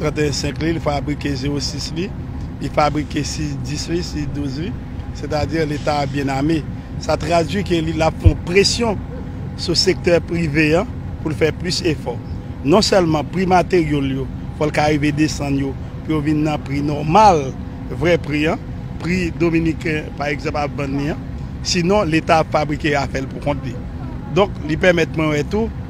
31 senk li, li fabrike 0 sis li, li fabrike 6 dis li, 6 douz li, sètadi leta a byen ame. Sa tradui ke li ap fon presyon sou sektè prive an pou l fè plis efò. Non sèlman pri materyo l yo, fò l ka rive desann yo pou yo vin nan pri nòmal, vrè pri an, pri dominiken pa egzanp ap vann li an, sinon leta ap fabrike afè l pou kont li. Donk li pèmèt mwen wè tou.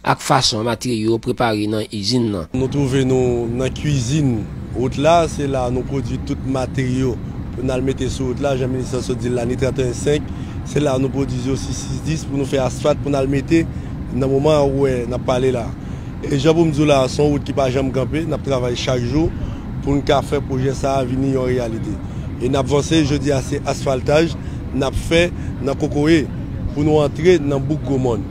ak fason materyo yo prepare nan izin nan. Nou twouve nou nan kwizin wout la, se la nou pwodwi tout materyo pou n al mete sou wout la, jan minis lan sot di l la, ni 31 5, se la nou pwodiz yo si 6 10 pou nou fè asfat pou n al mete nan moman an ou wè n ap pale la. E jan pou m di w la, se yon wout ki pa janm kanpe, n ap travay chak jou pou n ka fè pwojè sa a vini yon reyalite. E n ap vanse, jodi a se asfaltaj n ap fè nan Kokoye pou nou antre nan bouk Gwomòn.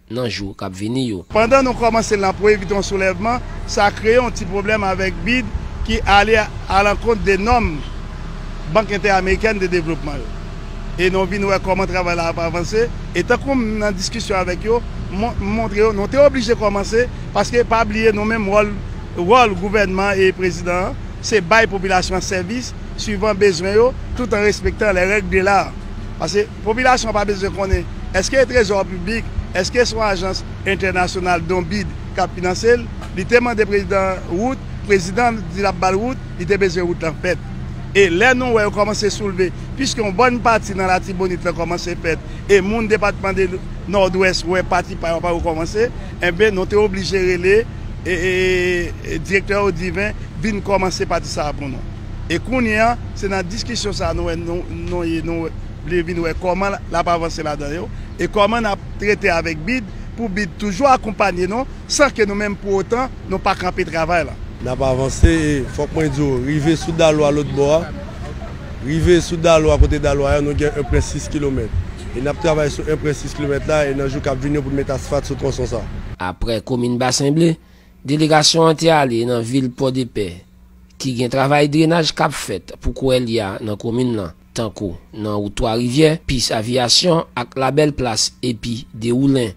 nan jou k ap vini yo. Pandan nou kòmanse l nan pou evite yon soulèvman, sa kreye yon ti pwoblèm avèk bid ki ale alankont de nòm Bank Entè-Amerikèn de Devlopman yo. E nou vin wè kòman travay la ap avanse, e tankou m nan diskisyon avèk yo, m montre yo nou te oblije kòmanse, paske pa bliye nou menm wòl wòl gouvènman an e prezidan an, se bay popilasyon an sèvis swivan bezwen yo, tout an respektan lè règ de l'art. Pase. Popilasyon an pa bezwen konnen èske e trezò piblik, èske son ajans entènasyonal don bid kap finanse l, li te mande prezidan wout, prezidan an di lap bal wout, li te bezwen wout lan fèt. E lè nou wè yo kòmanse soulve, piske yon bòn pati nan latibonit lan kòmanse fèt e moun depatman de nòdwès wè pati pa yo pa rekòmanse, enben nou te oblije rele direktè odiven vin kòmanse pati sa a pou nou. e kounye a se nan diskisyon sa nou wè nou ye nou vle vin wè kòman l ap avanse ladan yo e kòman n ap trete avèk bid pou bid toujou akonpanye nou san ke nou menm pou otan nou pa kanpe travay la. N ap avanse e fòk mwen di w rive sou dalou a lotbò a rive sou dalou a kote dalou a ye nou gen 1 pwen 6 kilomèt e n ap travay sou 1 pwen 6 kilomèt la e nan jou k ap vini yo pou n met asfat sou twonson sa. Aprè komin Basen Ble, delegasyon an te ale nan vil Pòdepè ki gen travay drenaj k ap fèt pou kouwè li a nan komin lan, tankou nan wout 3 rivyè, pis aviyasyon ak labèl plas epi Dewoulen.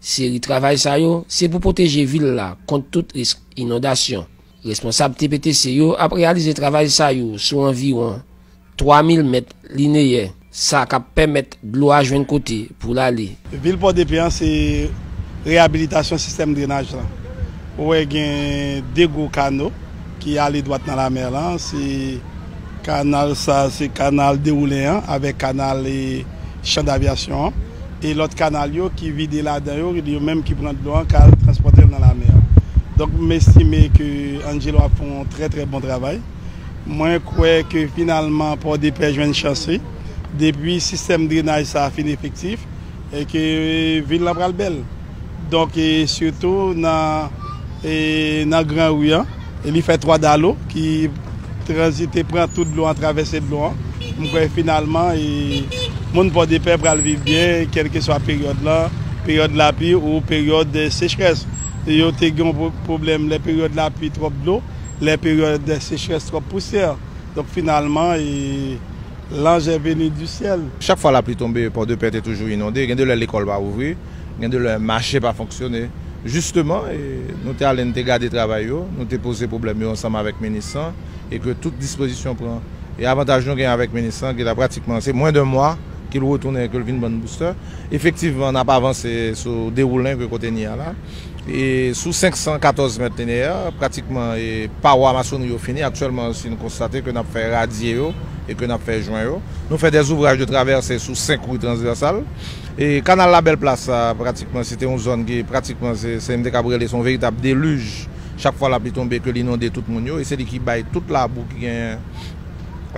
Seri travay sa yo se pou pwoteje vil la kont tout risk inondasyon. Responsab TPTC yo ap reyalize travay sa yo sou anviwon 3000 mèt lineyè, sa k ap pèmèt dlo a jwenn kote pou l ale. Vil Pòdepè an se reyabilitasyon sistèm drenaj lan. Ou wè gen 2 gwo kano ki ale dwat nan lamè lan, se. Kanal sa a se kanal Dewoulen an avèk kanal Chan Davyasyon an. E lòt kanal yo ki vide ladan yo, yo menm ki pran dlo an k al transpòte l nan lamè a. Donk m estime ke Angelo ap fè yon trè trè bon travay. Mwen kwè ke finalman Pòdepè jwenn chans li, depi sistèm drenaj sa fin efektif, e ke vil lan pral bèl. Donk e sitou nan e nan gran ri an, li fè 3 dalo ki tranzite pran tout dlo an, travèse dlo an. M kwè finalman e moun Pòdepè pral viv byen kèlkeswa peryòd lan, peryòd lapli ou peryòd sechrès. Yo te gen yon pwoblèm lè peryòd lapli twòp dlo. Lè peryòd dè sechrès twòp pousè. Donk finalman e lanj è veni di syèl. Chak fwa lapli tonbe Pòdepè te toujou inonde. Gen de lè lekòl pa ouvri. Gen de lè mache pa fonksyone. Jisteman e nou te ale n te gade travay yo. Nou te poze pwoblèm yo ansanm avèk minis lan e ke tout dispozisyon pran. E avantaj nou gen avèk minis lan ki la pratikman se mwen dè mwa ke l retounen ke l vin ban n boustè. Efektivman n ap avanse sou dewoulen ke kote n ye a la. Sou 514 mèt lineè, pratikman pawa masonri yo fini. Aktyèlman, si nou konstate ke nap fè radye yo e ke nap fè jwen yo. Nou fè dè ouvraj de travèse sou 5 ri transvèsal. Kanal la Bèl Plas sa, pratikman se te yon zòn ki pratikman se se m te kab rele se yon veritab deluj chak fwa lapli tonbe ke l inonde tout moun yo e se li ki bay tout labou ki genyen.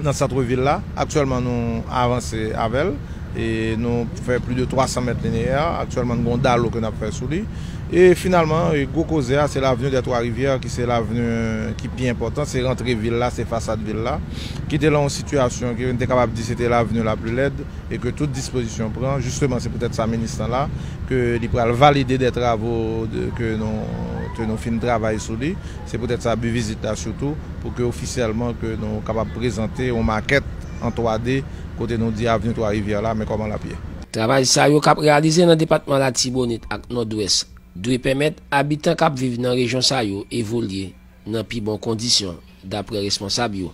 nan santre vil la. Aktyèlman nou avanse avè l e nou fè pli de 300 mèt lineè. Aktyèlman n gen yon dalo ke n ap fè sou li. E finalman gwo koze a se l'avenue des trois rivières ki se l'avenue ki pi enpòtan. Se rantre vil la, se fasad vil la ki te lan yon sitiyasyon ke n te kapab di se te l'avenue la pli lèd e ke tout dispozisyon pran. Jisteman se poutèt sa minis lan la ke li pral valide de travaux ke nou fin travay sou li. Se poutèt sa bi vizit la sitou pou ke ofisyèlman ke nou kapab prezante yon makèt an 3 D kote nou di Avni 3 Rivyè la men kòman l ap ye. Travay sa yo k ap reyalize nan depatman Latibonit ak Nòdwès dwe pèmèt abitan k ap viv nan rejyon sa yo evolye nan pi bon kondisyon, daprè responsab yo.